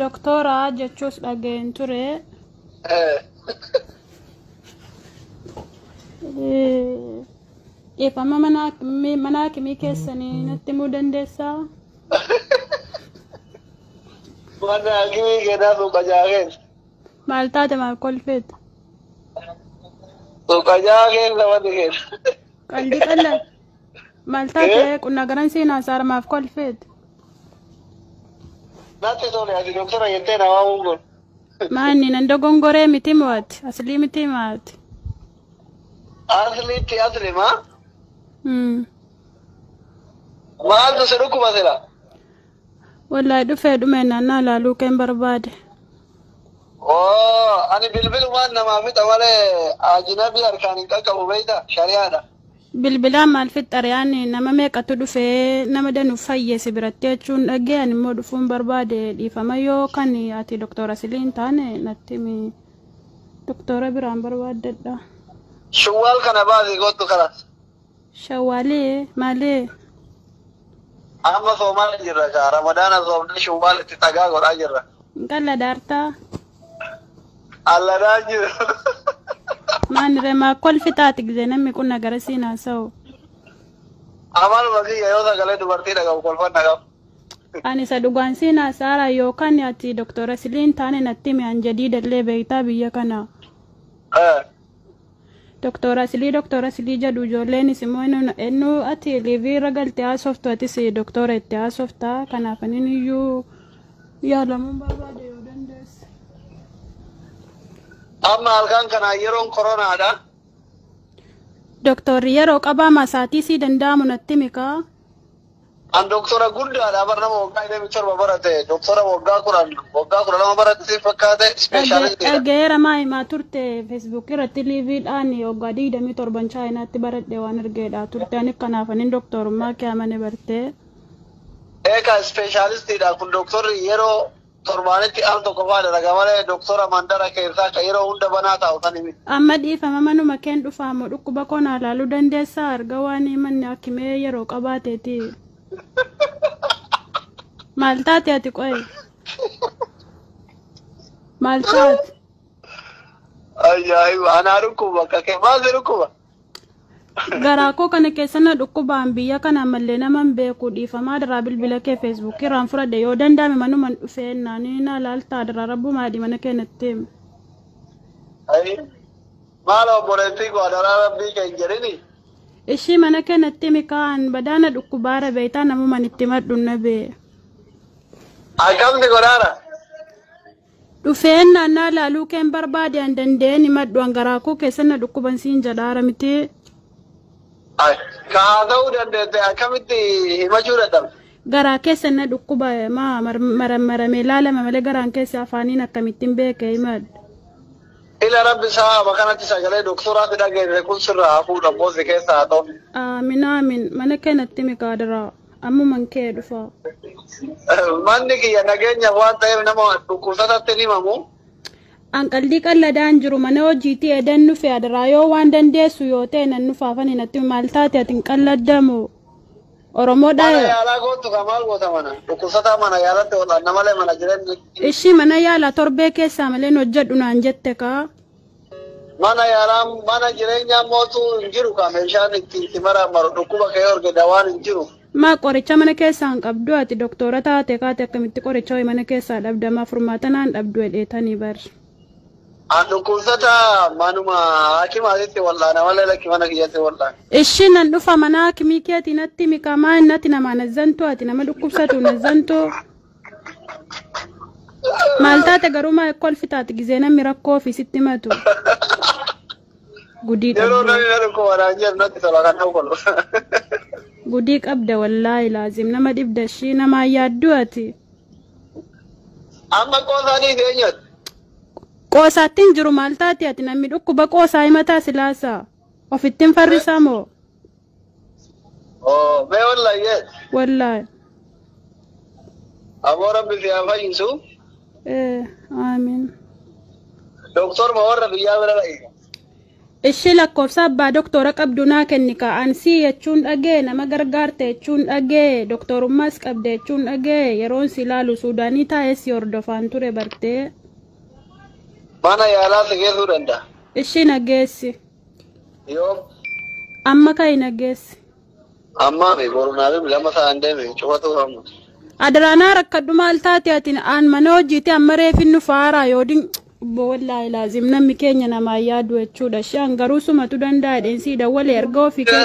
Doktora jechuus dhaga'een ture. Dhiifama mana akimii keessanii natti himuu dandeessaa? Mana akimii keenyaa suuqajaa keessa. Maal taate maal kolfeeta? Suuqajaa keessa wanti keessa. Qalbii qal'aa. Maal taate qunnaa garan seenaa saara maaf kolfeet? Natti tole ati doktora jettee na waamuu kun. Maanni nan dogongoree miti mo'ati aslii miti maati. Asliitti asli maa? Hmm. Maaltu si dhukkuba sila? Wallahi dhufee dhumee naannaa ilaaluu keen barbaade. Oo ani bilbilumaan namaa fixa malee ajinabii harkaan hin qaqqabu beekta shari'aadha. Bilbilaa maalfit xariyaan nama meeqatu dhufee nama danu fayye si biratti jechuun dhaggee ani immoo dhufuun barbaade dhiifama yoo kan ati doktora silii hin taane natti himi doktora biraan barbaaddadha. Shawwaal kana baasii kottu kanas. Shawwaalee maalee Amma soomaa jirra kaa ramadaana soomnee shawwaal itti xagaa godhaa jirra. qalla daartaa Allanaa jiru. Maani remaa kolfi taati gizee namni kun nagara siin haasa'u. Amaluma kiyya yoo sagalee dubartii dhagahu kolfan dhagahu. Ani isa dhugaan siin haasa'ara yookaan ati doktora siliin taane natti himi an jadiidallee beektaa biyya kana. Eh. Doktora Asilii Doktora Asilii jedhu ijoolleenis immoo enu- enu ati liivii irra galtee haasoftu atis doktora itti haasofta kanaaf anin iyyuu yaalamuun barbaade yoo dandeesse. Amma halkan kana yeroon koronaadha. Doktorri yeroo qabaama isaatii sii danda'amu natti mikaa. An doktora guddaadha bar nama waggaa 27 barate doktora waggaa 10 waggaa 12 barate si fakkaate Dhagge- ispeeshaalistiidha. Dhaggeera maa himaa turte Facebook irratti liiviidhaan waggaa 27 chaayinaatti baradhe waan argeedha turte ani kanaaf anin doktorummaa kee amane bartee. Eegaa ispeeshaalistiidha kun doktorri yeroo Torbaanitti al tokko faa dalaga malee doktora mandara keessaa ka yeroo hunda banaa taa'u sani miti. Amma dhiifama manuma keen dhufaa moo dhukkuba koo naa laaluu dandeessaa erga waan manni akimee yeroo qabaateeti. Maal taate ati qoye? Maal taate? Ayyaayi anaa dhukkuba akka kee maal si dhukkuba? Garaa koo kana keessa na dhukkubaan biyya kana ammallee naman beeku dhiifamaa daraa bilbila kee feesbuukii irraan fudhadhe yoo danda'ame manuman dhufee naanii na laaltaa daraa rabbumaa adii mana keenyatti. Ayi. Maal obboleettii koo adaraa rabbii kee hin jedhini. Ishii mana keenyatti mikaan badaa na dhukkubaara beektaa namuman itti madhu na bee. Akkamti godhaara? Dhufeen naannaa laaluu keen barbaade an danda'een himadhu an garaa koo keessan na dhukkuban siin jedhaara miti. Ka haa ta'uu dandeette akkamitti himachuu dadhabde? Garaa keessan na dhukkuba maa marammaramee laalama malee garaan keessa afaaniin akkamittiin beeke himadhu. Ila rabbi saaba kanatti sagalee doktoraa si dhageessise kun sirraa haa fuudhu abboosi keessa haa ta'u. Aamin aamin mana keenatti miqaadaraa. Ammuman kee dhufaa. Manni kiyya nageenya waan ta'eef nama dhukkubsatatti ni himamu. An qaldii qalladaan jiru mana hojiitii edan nufi adaraa yoo waan dandeessu yoo ta'e nan nufaafan hin atti maal taate ati hin qalladdamu. Oromoodha. Mana yaalaa gootu kan maal goota mana? Dhukkubsataa mana yaalatti wal'aanna malee mana jireenya. Ishii mana yaalaa torbee keessaa malee hin hojjedhu naan jette kaa. Mana yaalaa mana jireenyaa mootu hin jiru kaa meeshaan itti itti maraamaru dhukkuba kee horge dawaan hin jiru. Maa qoricha mana keessaa hin qabdu ati doktoora taate kaate akkamitti qoricha wayi mana keessaa dhabda maa furmaata naan dhabdu jedheetanii bar. An dhukkubsata manuma hakimaatitti wal'aana malee lakki mana kiyyatti wal'aana. Ishii nan dhufa mana hakimii keetii natti himi kaa maa innati namaa nazzantu ati nama dhukkubsatu nazzantu. Maal taate garuu maa kolfi taate gizee namni rakkoo fi sitti matu. Gudii Yeroo qabda. namni na dhukkuba naan jedhu natti tola kan ta'u kun. Gudii qabda wallaahi laazim nama dhibda ishii namaa yaaddu ati. Amma qoosaanii eenyuuti? Qoosaatti hin jiru maal taate ati namni dhukkuba qoosaa himataa silaasaa. Ofittin farrisaa moo? Oh, mee wallahi yes. Wallaahi. Aboo rabbi si haa fayyisu. Eh, Aamiin. Doktor ma warra biyyaa bira dha'i. Ishii lakkoofsa abbaa doktora qabdu naa kenni kaa ansii jechuun dhagee nama gargaarte jechuun dhagee doktorummaas qabde jechuun dhagee yeroon si ilaalu suudaanii taa'ee si hordofaan ture bartee. Mana yaalaa si geessuu danda'a. Ishii na geessi. Yoom? Amma ka'i na geessi. Ammaa mi boru naa bibi lama sa'aan deeme cufatuu hamma. Adaraa naa rakkadhu maal taate ati aan mana hojiiti amma reefin nu faaraa yoo din obbo wallaahi laazim namni keenya namaa yaadu jechuudha. Shaan garuu sumatu danda'a dheensii dawwalee erga ofii kee.